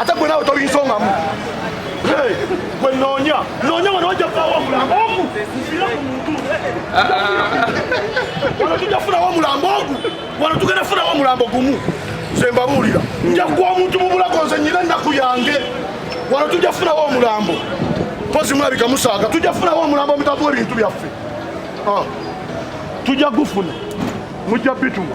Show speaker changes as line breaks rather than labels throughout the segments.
ate gwe nawe tobinsongamu gwe noonya noonya wano wajja kulawo omulambo ogu nsira ku muntu wano tujja funawo omulambo ogu wano tugenda funawo omulambo gumu nze mbabuulira nja kuwa omuntu mu bulago nze nyina ennaku yange wano tujja funawo omulambo mpozi mulabika musaaga tujja funawo omulambo omutavuwa ebintu byaffe ah. tujja gufuna mujja bituma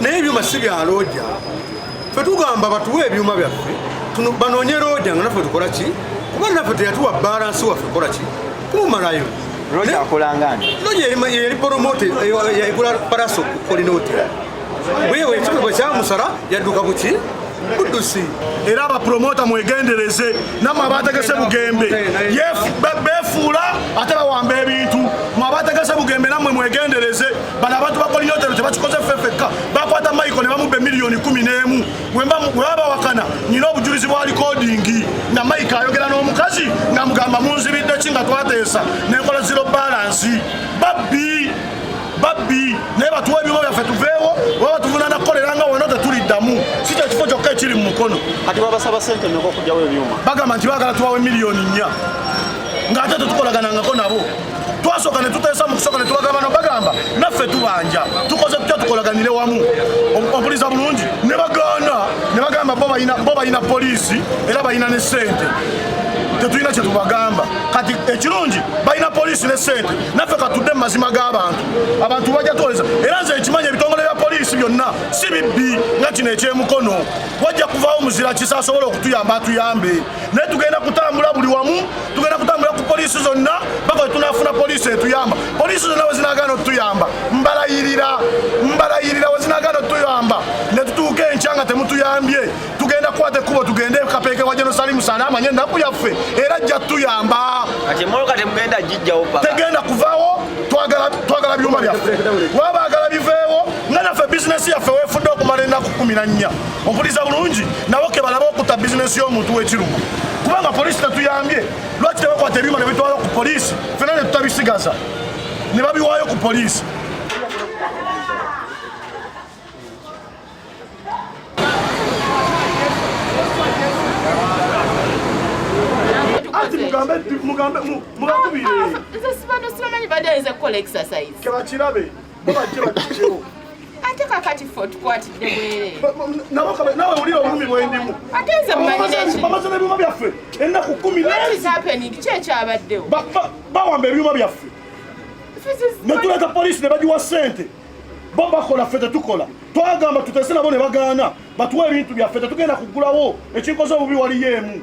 naye ebyuma si bya looja fe tugamba batuwe ebyuma byaffe banoonye looja nga naffe tukola ki kuba naffe teyatuwa balansi waffe kola ki kumumalayo looja akolanga
nti looja yali
poromote yagula palaso kolina otera wewe ekikulu bwe kyamusala yadduka ku ki buddusi era abapromota mwegendereze namwe abategese bugembe befuula ate bawamba ebintu mwe abategese bugembe namwe mwegendereze bano abantu bakolina otero tebakikoze ffeffekka bakwata maiko ne bamubba emiliyoni kumi n'emu webabawakana nyina obujulizi bwa likodingi nga maiko ayogera n'omukazi nga mugamba munzibidde ki nga twateesa nenkola ziro balansi babbi babbi naye batuwa ebyuma byaffe tuveewo oba batuvunana kukolera nga wona tetuliddamu si kyo kifo kyokka ekiri mu mukono ati babasaba sente
meka okugyawo ebyuma bagamba nti bagala tuwawo
emiliyoni nnya ng'ate tetukolaganangako nabo twasooka ne tuteesa mu kusooka ne tubagamba no bagamba naffe tubanja tukoze tutya tukolaganire wamu obuliza bulungi ne bagaana ne bagamba bo balina poliisi era balina ne ssente tetulina kyetubagamba kati ekirungi balina poliisi ne sente naffe katudde mu mazima g'abantu abantu bajja tuwoleza era nze ekimanya ebitongole bya poliisi byonna si bibbi nga kino ekyemukono wajja kuvaawo muzira kisa asobole okutuyamba atuyambe naye tugenda kutambula buli wamu tugenda kutambula ku poliisi zonna baka wetunafuna poliisi etuyamba poliisi zonna wezinagana otuyamba mbalayirira mbalayirira wezinagana otuyamba netutuuka enkya nga temutuyambye tugenda kukwata ekkubo tugende kapeeke wa jenosalimu salama nye ennaku yaffe era ajja tuyamba
tegenda kuvaawo
twagala byuma byaffe wabagala biveewo nga naffe bizinesi yaffe wefudde okumala ennaku kumi na nnya mpuliriza bulungi nabo ke balaba okutta bizinensi y'omuntu w'ekirumu kubanga poliisi tetuyambye lwaki tebakwata ebyuma ne bitwala ku poliisi fena ne tutabisigaza ne babiwaayo ku poliisi mugambe mugambe mubakubire nze sibantu
sibamanyi badayinza kukola exercise kebakirabe
ate kakati
fe otukwatidde bwerenawe
wulira obulumi bwendimu ate nze mumanyibamaze
nebyuma byaffe
ennaku kumi nhapening ki
ekyabaddewo bawamba
ebyuma byaffe netuleta polisi nebagiwa sente bo bakola ffe tetukola twagamba tutese nabo ne bagaana batuwa ebintu byaffe tetugenda kugulawo ekinkoze obubi waliyo emu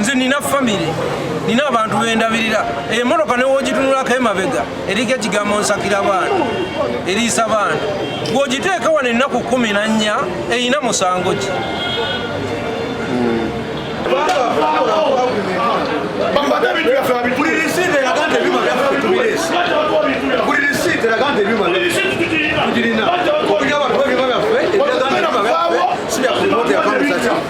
nze nina famire nina abantu bendabirira emotoka newogitunulako emabega eriko ekigambo nsakira baana eriisa baana gwogiteeka wano ennaku kumi na nnya erina musango ki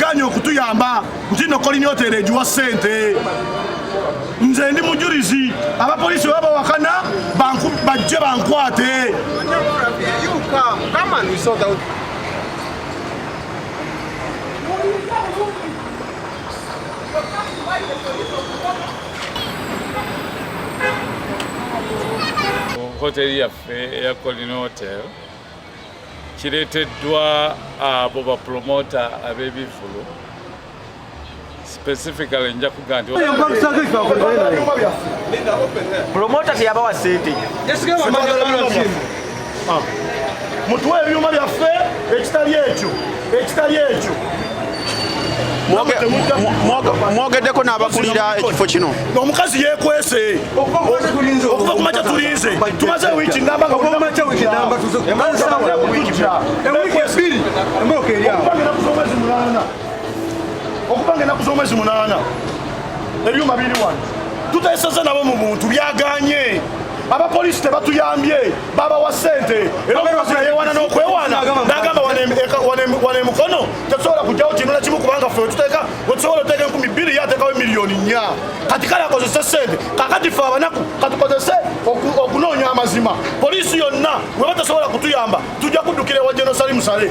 ganye okutuyamba nti no kolina otere egiwa sente nze ndi mujurizi abapolisi baba bawakana bajje bankwate
hoteli yaffe eya colin hotel kireeteddwa abo bapulomota ab'ebivvulu specifically nja kuga nti
promota teyabawa sente
mutuwa ebyuma byaffe ekitali ekyo ekitali ekyo
mwogeddeko n'abakulira ekifo kino omukazi yekwese
okuva kumakya tulinze tumaze wiiki okubanga enaku z'omwezi munaana ebyuma biri wano tuteseza nabo mu buntu byaganye abapoliisi tebatuyambye baba wa sente era omukazi nayewana n'okwewaana n'agamba wana emukono tetusobola kujjawo kintu na kimu kubanga fe wetuteeka wetusobola oteeka enkumi bbiri ye ateekawo emiliyoni nnya kati kale akozese sente kakati fe abanaku katukozese okunoonya amazima poliisi yonna weba tesobola kutuyamba tujja kuddukira ewa jenosali musale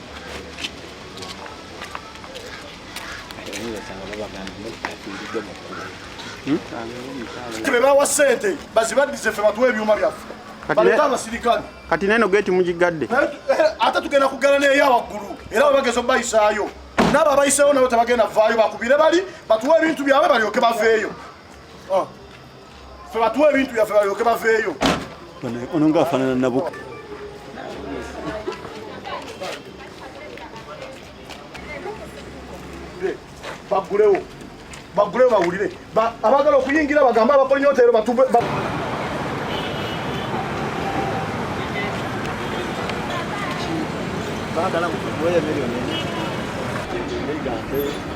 bebawa sente bazibaddize fe batuwa ebyuma byaffe baleta abasirikale kati neno geti
mugigadde eh, eh, ate tugenda
kugala neeyo awaggulu era webageza obayisaayo naabo abayiseewo nabo tebagenda vaayo bakubire bali batuwa ebintu byabwe balyoke baveeyo ah. ffe batuwa ebintu byaffe balyoke baveeyo ono nga
afanana nabuka
bagulewo bagulewo bawulire abagala okuyingira bagambe abakola nyota ero batube Bárbara,
voy a medio, ¿no?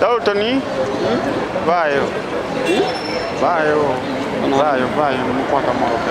Daltoni vayo vayo vayo vayo mukwata mwaoke